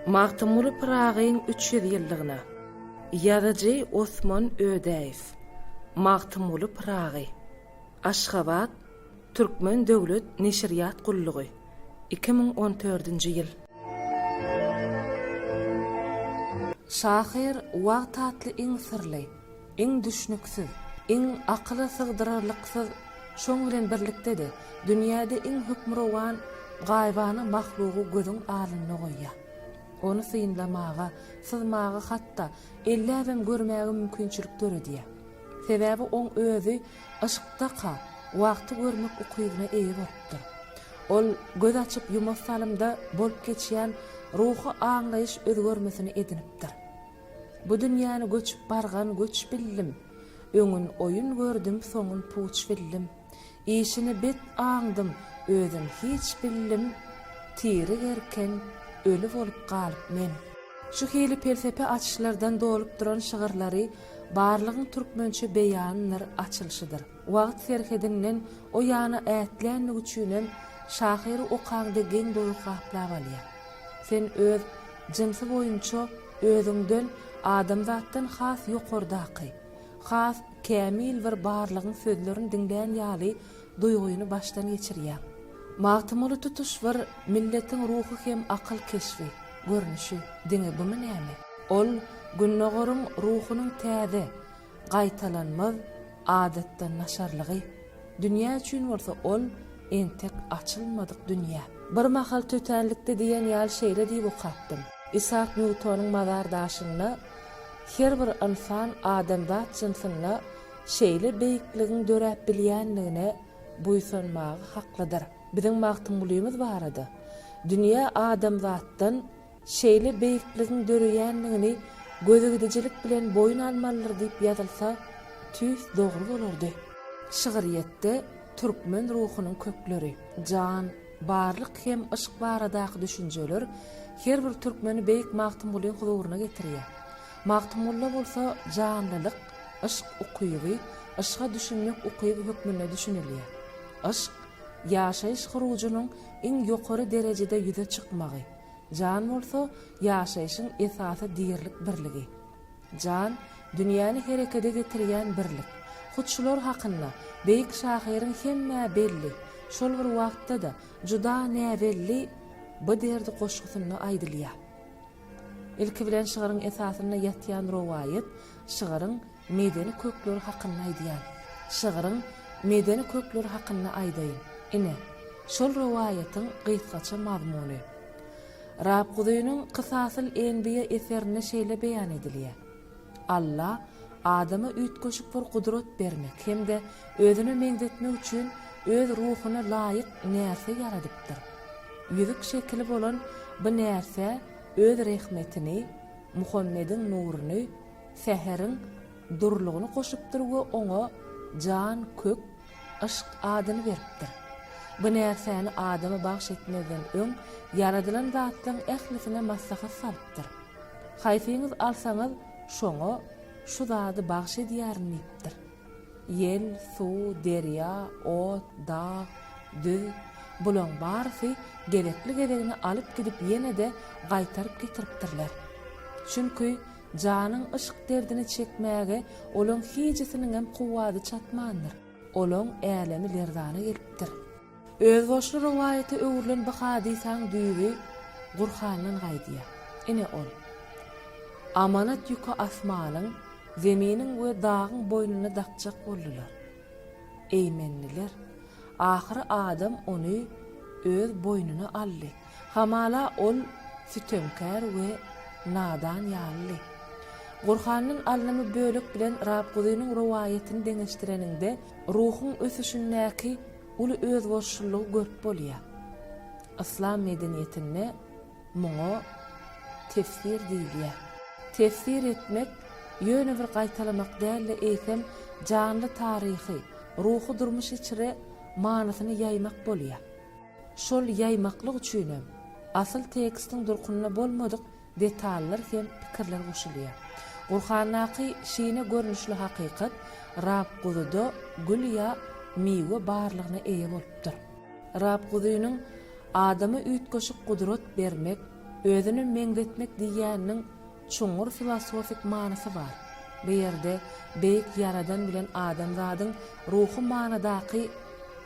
Magtymguly Pyragyň üç ýüz ýyllygyna Ýazyjy Osman Ödäýew Magtymguly Pyragy Aşgabat, Türkmen döwlet neşirýat gullugy, iki müň on dördünji ýyl. Şahyr wagt atly iň syrly. Iň düşnüksiz, iň akyla sygdyrarlyksyz, şoň bilen birlikde-de, dünýäde iň hökmürowan gaýybana mahlugy gözüň alynda goýýar. Ony synlamaga, syzmaga hatda elläbem görmäge mümkinçilik döredýär. Sebäbi oň özi yşkdaka wagty görmek ukybyna eýe bolupdyr. Ol göz açyp ýumassalymda bolup geçýän ruhy aňlaýyş özgermesini edinipdir. Bu dünýäni göçüp bargan göç bildim, Öňün oýun gördüm, soňun puç bildim. Işini bet aňdym, özüm hiç bildim, Tiri gerken, öli bolup galyp men. Şu hili pelsepe açyşlardan dolup duran şygyrlary barlygyň türkmençe beýanydyr, açylyşydyr. Wagt serhedinden o ýana ätlänligi üçinem şahyry okaňda geň doly gaplap alýar. Sen öz jynsy boýunça Özüňden, adamzatdan has ýokardaky, has kämil bir barlygyň sözlerini diňlän ýaly duýgyny başdan geçirýäň. Magtymguly tutuş bir milletiň ruhy hem akyl keşbi, görnüşi, diňe bumy näme? Ol Gündogaryň ruhunyň täze. Gaýtalanmaz adatdan naşarlygy, dünýä üçin bolsa ol entek açylmadyk dünýä. Bir mahal tötänlikde diýen ýaly şeýle diýip okapdym, Isaak Nýutonyň mazar daşynda her bir ynsan adamzat jynsynda şeýle beýikligiň döräp bilýänligine buýsanmaga haklydyr. Biziň Magtymgulymyz barada, Dünýä adamzatdan Şeýle beýikligiň döreýändigini gözügidijilik bilen boýun almalydyr diýip ýazylsa, tüýs dogry bolardy. Şygryýetde türkmen ruhunyň kökleri, jan, barlyk hem yşk baradaky düşünjeler her bir türkmeni beýik Magtymgulyň huzuryna getirýär. Magtymgulda bolsa janlylyk yşk ukyby, yşga düşünmek ukyby hökmünde düşünilýär. Yşk, ýaşaýyş hyrujunyň iň ýokary derejede ýüze çykmagy. Jan bolsa, ýaşaýşyň esasy dirilik birligi. Jan, dünýäni herekede getirýän birlik. Hut şular hakynda beýik şahyryň Hemmä belli, şol bir wagtda-da juda näbelli bu derdi goşgusynda aýdylýar. Ilki bilen şygryň esasynda ýatýan rowaýat şygryň Medeni kökleri hakynda aýdýan şygryň medeni kökleri hakynda aýdaýyn, ine, şol rowaýatyň gysgaça mazmuny. Rabguzynyň Kysasyl enbiýa eserinde şeýle beýan edilýär, Alla adama üýtgeşik bir gudrat bermek hem-de özüne meňzetmek üçin öz ruhuna laýyk närse ýaradypdyr. Ýüzük şekili bolan bu närse öz rehmetini, Muhammediň nuruny, säheriň durlugyny goşupdyr we oňa jan, kök, yşk adyny beripdir. Bu närsäni adama bagş etmezden öň ýaradylan zatlaryň ählisine maslahat salypdyr. Haýsyňyz alsaňyz, şoňa şu zady bagş edýärin diýipdir. Ýel, suw, derýa, ot, dag, düz, bulaň barysy gezekli-gezegine alyp gidip ýene-de gaýtaryp getiripdirler. Çünki, Janyň yşk derdini çekmäge olaň hijisiniňem kuwwady çatmandyr. Olaň älemi lerzana gelipdir. Özboluşly rowaýata öwrülen bu hadysaň düýbi Gurhandan gaýdýar. Ine ol. Amanat ýüki asmanyň, zeminiň we dagyň boýnuna dakjak boldular. Eýmenliler. Ahyry adam ony öz boýnuna aldy. Hamala ol sütemkär we nadan ýalydy. Gurhanyň alnymy bölek bilen Rabguzynyň rowaýatyny deňeşdireniňde, ruhuň ösüşindäki uly özboluşlylygy görüp bolýar. Yslam medeniýetinde muňa tefsir diýilýär. Tefsir etmek, ýöne bir gaýtalamak däl-de, eýsem, janly taryhy, ruhy durmuş içre manysyny ýaýmak bolýar. Şol ýaýmaklyk üçinem, asyl tekstiň durkunda bolmadyk detallar hem pikirler goşulýar. Gurhandaky şine görnüşli hakykat Rabguzyda gül ýa miwe barlygyna eýe bolupdyr. Rabguzynyň adama üýtgeşik gudrat bermek, özüne meňzetmek diýýäniniň çuňňur filosofik manysy bar. Bu ýerde Beýik Ýaradan bilen adamzadyň ruhy manydaky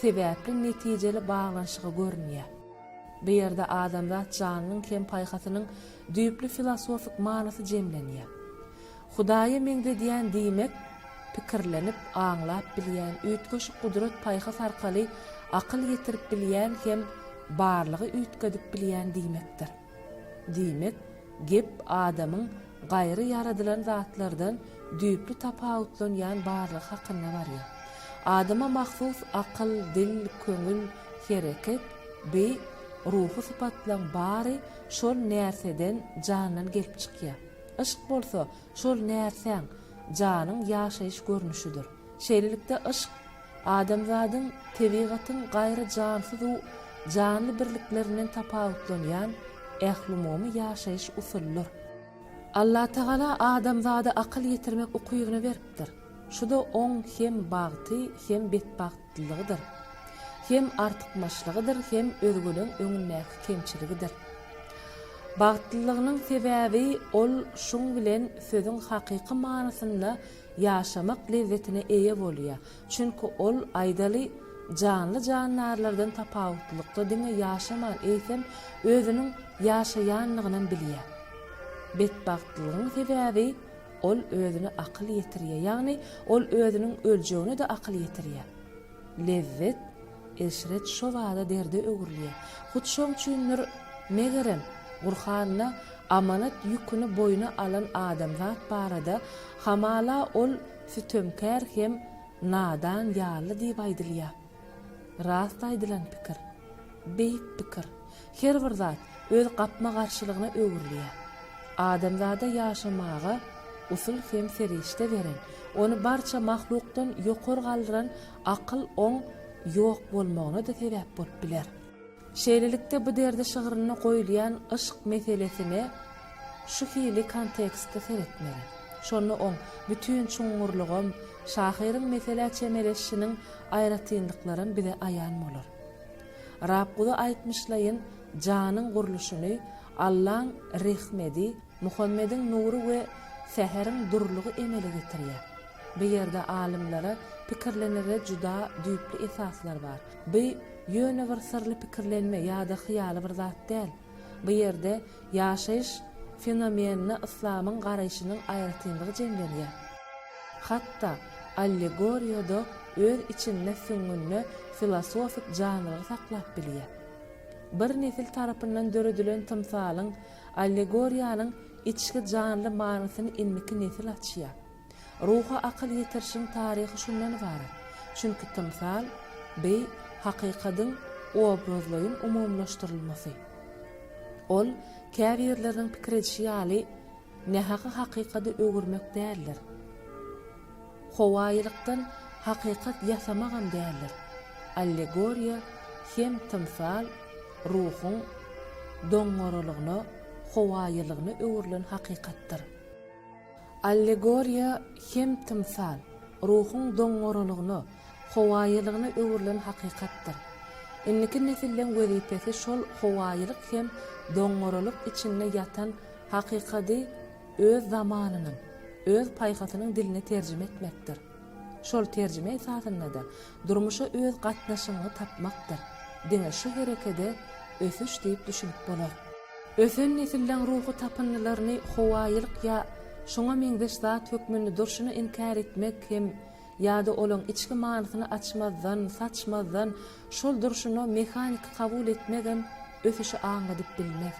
sebäpli-netijeli baglanyşygy görünýär. Bu ýerde adamzat janynyň hem paýhasynyň düýpli filosofik manysy jemlenýär. Hudaýa meňzedýän diýmek, pikirlenip, aňlap bilýän, üýtgeşik gudrat-paýhas arkaly akyl ýetirip bilýän hem barlygy üýtgedip bilýän diýmekdir. Diýmek, gep adamyň gaýry ýaradylan zatlardan düýpli tapawutlanýan barlygy hakynda barýar. Adama mahsus akyl, dil, köňül, hereket, beý, ruhy sypatlaň bary şol närseden, jandan gelip çykýar. Yşk bolsa şol närsäň, janyň ýaşaýyş görnüşidir. Şeýlelikde yşk Adamzadyň tebigatyň gaýry jansyz u janly birliklerinden tapawutlanýan ählumumy ýaşaýyş usullyr. Allatagala adamzada akyl ýetirmek ukybyny beripdir. Şu-da oň hem bagty, hem betbagtlylygydyr. Hem artykmaçlygydyr, hem özgeleň öňündäki kemçiligidir. Bagtlylygynyň sebäbi, ol şuň bilen sözüň hakyky manysynda ýaşamak lezzetine eýe bolýar, çünki ol, aýdaly, janly-jandarlardan tapawutlylykda diňe ýaşaman, eýsem, özüniň ýaşaýanlygynam bilýär. Betbagtlylygyň sebäbi, ol özüne akyl ýetirýär, ýagny ol özüniň öljegine-de akyl ýetirýär. Lezzet, eşret şo bada derde öwrülýär. Hut şoň üçindir, megerem, Gurhanda amanat ýüküni boýna alan adamzat barada hamala ol sütemkär hem nadan ýaly diýip aýdylýar. Rast aýdylan pikir. Beýik pikir. Her bir zat öz gapma-garşylygyna öwrülýär. Adamzada ýaşamaga usul hem serişde beren, ony barça mahlukdan ýokary galdyran akyl oň ýok bolmagyna-da sebäp bolup biler. Şeýlelikde bu derdi şygrynda goýulýan yşk meselesine şu hili kontekstde seretmeli. Şonda oň bütin çuňňurlygam, şahyryň meselä çemeleşişiniň aýratynlyklaram bize aýan bolar. Rapguda aýtmyşlaýyn janyň gurluşyny Allaň rehmedi, Muhammediň nury we säheriň durlugy emele getirýär. Bu ýerde alymlara pikirlenere juda düýpli esaslar bar. Bu ýöne bir syrly pikirlenme ýa-da hyýaly bir zat däl. Bu ýerde ýaşaýyş fenomenine yslamyň garaýşynyň aýratynlygy jemlenýär. Hat-da allegoriýa-da öz içinde süňňünde filosofik janryny saklap bilýär. Bir nesil tarapyndan döredilen tymsalyň, allegoriýanyň içki janly manysyny indiki nesil açýar. Ruha akyl ýetirişiň taryhy şundan ybarat, çünki tymsal, bi, hakykadyň obrazlaýyn umumylaşdyrylmasy. Ol, käbirleriniň pikir edişi ýaly, nähaky hakykady öwürmek däldir. Howaýylykdan hakykat ýasamagam däldir. Allegoriýa hem tymsal, ruhuň doňňaralygyna, howaýylygyna öwrülen hakykatdyr. Allegoriýa hem tymsal, ruhuň doňňaralygyna, howaýylygyna öwrülen hakykatdyr. Indiki nesilleň wezipesi şol howaýylyk hem doňňaralyk içinde ýatan hakykady öz zamanynyň, öz paýhasynyň diline terjime etmekdir. Şol terjime esasynda-da, Durmuşa öz gatnaşygyňy tapmakdyr. Diňe şu herekede ösüş diýip düşünip bolar. Ösen nesilleň ruhy tapyndylaryny howaýylyk ýa şoňa meňzeş zat hökmünde durşuna inkär etmek hem ýa-da olaň içki manysyny açmazdan, saçmazdan, şol durşuna mehaniki kabul etmegem ösüşi aňladyp bilmez.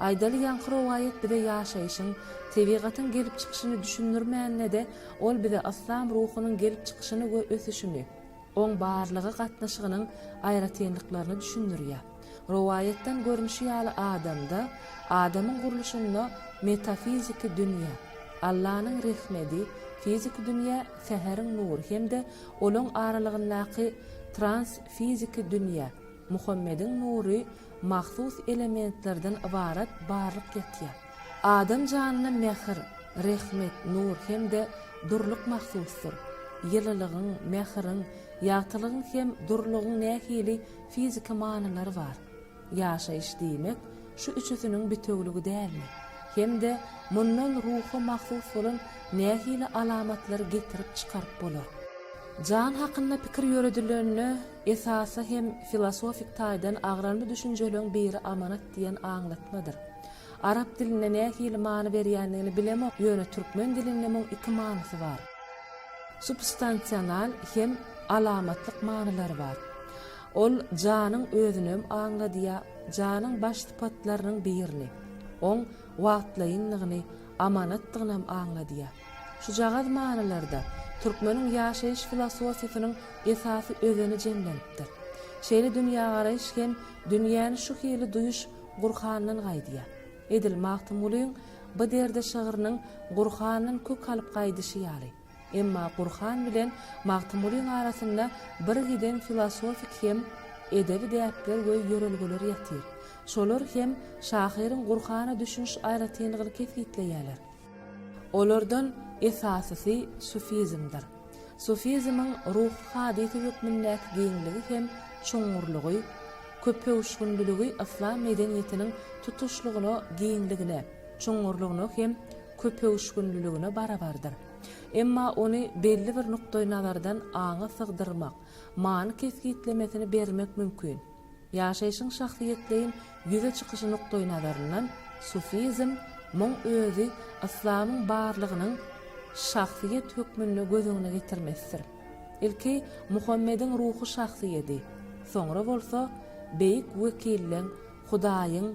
Aýdaly ýaňky rowaýat bize ýaşaýşyň, tebigatyň gelip çykyşyny düşündirmände-de, ol bize yslam ruhunyň gelip çykyşyny we ösüşini, oň barlyga gatnaşygynyň aýratynlyklaryny düşündirýär. Rowaýatdan görnüşi ýaly adamda, adamyň gurluşynda metafiziki dünýä, Allanyň rehmedi, fiziki dünýä, säheriň nury hem-de olaň aralygyndaky transfiziki dünýä, Muhammediň nury mahsus elementlerden ybarat barlyk ýatýar. Adam janyna mähir, rehmet, nur hem-de durulyk mahsusdyr. Ýylylygyň, mähiriň, ýagtylygyň hem durulygyň nähili fiziki manylary bar? Ýaşaýyş diýmek, şu üçüsiniň bitewüligi dälmi? Hem-de mundan ruha mahsus bolan nähili alamatlary getirip çykaryp bolar? Jan hakynda pikir ýöredilende, Esasy hem filosofik taýdan agramly düşünjeleň biri amanat diýen aňlatmadyr. Arap dilinde nähili many berýändigini bilemok, ýöne türkmen dilinde muň iki manysy bar. Substansional hem alamatlyk manylary bar. Ol janyň özünem aňladýar, janyň baş sypatlarynyň birini, oň wagtlaýynlygyny, amanatdygynam aňladýar. Şujagaz manylarda türkmeniň ýaşaýyş filosofiýasynyň esasy özeni jemlenipdir. Şeýle dünýägaraýyş hem dünýäni şu hili duýuş Gurhandan gaýdýar. Edil Magtymgulyň By derde şygrynyň Gurhandan kök alyp gaýdyşy ýaly. Emma Gurhan bilen Magtymgulyň arasynda birgiden filosofik hem edebi däpler we ýörelgeler ýatyr. Şolar hem şahyryň Gurhana düşüniş aýratynlygyny kesgitleýärler. Olardan esasysy sufizmdir. Sufizmiň ruhy hadysa hökmündäki giňligi hem çuňňurlygy, köpöwüşginliligi yslam medeniýetiniň tutuşlygyna giňligine, çuňňurlygyna hem köpöwüşginliligine barabardyr. Emma ony belli bir nukdaýnazardan aňa sygdyrmak, many kesgitlemesini bermek mümkin. Ýaşaýşyň şahsyýetleýin ýüze çykyşy nukdaýnazaryndan, sufizm, muň özi yslamyň barlygynyň şahsyýet hökmünde göz öňüne getirmesidir. Ilki Muhammediň ruhy şahsyýedi, soňra bolsa beýik wekilleň Hudaýyň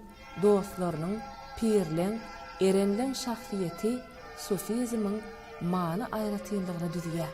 dostlarynyň pirleň, erenleň şahsyýeti sufizmiň many aýratynlygyny düzýär.